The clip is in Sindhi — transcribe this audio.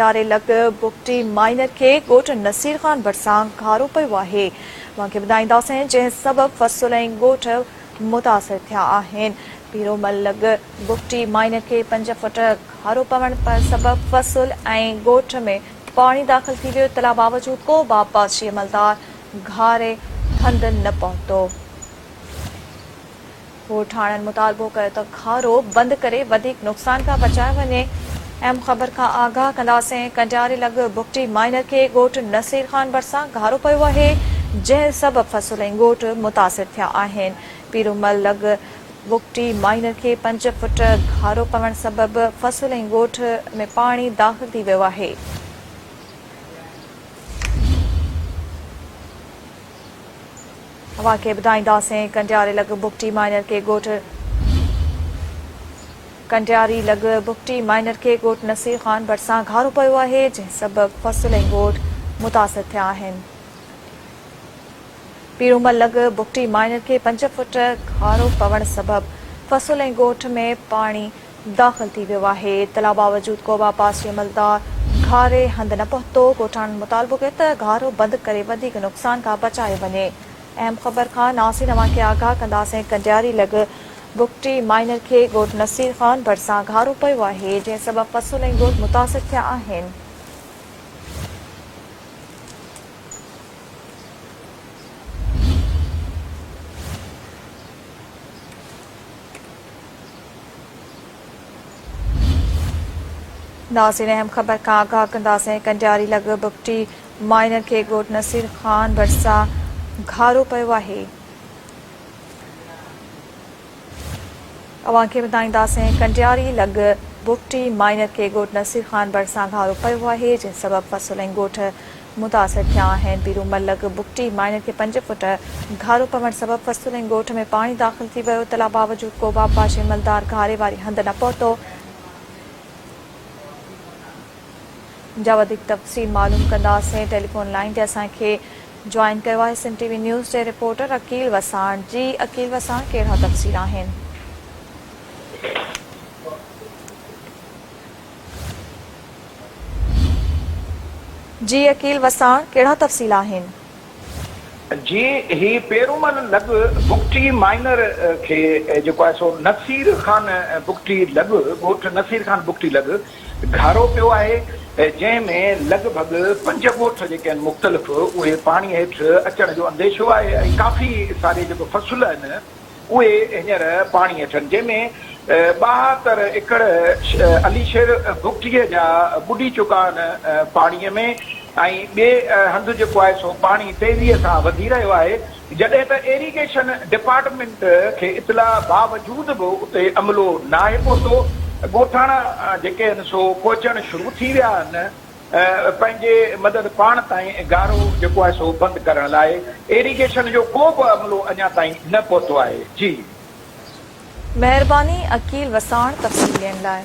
يارهين لڪ بگٽي مائينر کي ڳوٺ نصير خان ڀرسان گهارو پيو آهي اوهان کي ٻڌائينداسين جنهن سبب فصل ۽ ڳوٺ متاثر ٿيا آهن پيرومل لڳ بگٽي مائينر کي پنج فوٽ گهارو پوڻ سبب فصل ۽ ڳوٺ ۾ پاڻي داخل ٿي ويو اطلاع باوجود ڪو به آبپاشي عملدار گهاري هنڌ نه پهتو. ڳوٺاڻن مطالبو ڪيو ته کارو بند ڪري وڌيڪ نقصان کان بچايو وڃي، ايم خبر کان آگاهه ڪنداسين، ڪنڊياري لڳ بگٽي مائينر کي ڳوٺ نصير خان ڀرسان گهارو پيو آهي، جنهن سبب فصل ۽ ڳوٺ متاثر ٿيا آهن، پيرومل لڳ بگٽي مائينر کي پنج فٽ گهارو پوڻ سبب فصل ۽ ڳوٺ ۾ پاڻي داخل ٿي ويو آهي. اوهان کي ٻڌائينداسين ڪنڊياري لڳ بگٽي مائنر کي ڳوٺ ڪنڊياري لڳ بگٽي مائنر کي ڳوٺ نصير خان ڀرسان گهارو پيو آهي جنهن سبب فصل ۽ ڳوٺ متاثر ٿيا آهن پيرومل لڳ بگٽي مائنر کي پنج فوٽ گهارو پوڻ سبب فصل ۽ ڳوٺ ۾ پاڻي داخل ٿي ويو آهي اطلاع باوجود ڪوبه عباسي عملدار گهاري هنڌ نه پهتو ڳوٺاڻن مطالبو ڪيو ته گهارو بند ڪري وڌيڪ نقصان کان بچايو وڃي اهم خبر کان ناسين اوهان کي آگاهه ڪنداسين ڪنڊياري لڳ بگٽي مائنر کي ڳوٺ نصير خان ڀرسان گهارو پيو آهي جنهن سبب فصل ۽ ڳوٺ متاثر ٿيا آهن. ناظرين اهم خبر کان آگاهه ڪنداسين ڪنڊياري لڳ بگٽي مائنر کي ڳوٺ نصير خان ڀرسان گهارو پيو آهي اوهان کي ٻڌائينداسين ڪنڊياري لڳ بگٽي مائنر کي ڳوٺ نصير خان ڀرسان گهارو پيو آهي جنهن سبب فصل ۽ ڳوٺ متاثر ٿيا آهن، پيرو ملڪ بگٽي مائنر کي پنج فوٽ گهارو پوڻ سبب فسطلين ڳوٺ ۾ پاڻي داخل ٿي ويو، اطلاع باوجود ڪوبه آبپاشي عملدار گهاري واري هنڌ نه پهتو، جا وڌيڪ تفصيل معلوم ڪنداسين ٽيليفون لائين تي اسان کي جوائن ڪيو آهي سنڌ ٽي وي نيوز جي رپورٽر عقيل وساڻ، جي عقيل وساڻ ڪهڙا تفصيل آهن. جي عقيل وساڻ، ڪهڙا تفصيل آهن؟ جي هي پيرومل لڳ بگٽي مائنر کي جيڪو آهي سو نصير خان بگٽي لڳ ڳوٺ نصير خان بگٽي لڳ گهارو پيو آهي جنهن ۾ لڳ ڀڳ پنج ڳوٺ جيڪي آهن مختلف اهي پاڻي هيٺ اچڻ جو انديشو آهي ۽ ڪافي ساري جيڪو فصل آهن اهي هينئر پاڻي اچن جنهن ۾ ٻاهاتر ايڪڙ علي شير بگٽيء جا ٻڏي چڪا آهن پاڻيء ۾ ۽ ٻئي هنڌ جيڪو آهي سو پاڻي تيزيء سان وڌي رهيو آهي جڏهن ته ايريگيشن ڊپارٽمينٽ کي اطلاع باوجود به اتي عملو ناهي پهتو ڳوٺاڻا جيڪي آهن سو پهچڻ شروع ٿي ويا آهن. پنهنجي مدد پاڻ تائين گارو جيڪو آهي سو بند ڪرڻ لاء ايريگيشن جو ڪو به عملو اڃا تائين نه پهتو آهي جي. مهرباني عقيل وساڻ تفصيل ڏين لاء.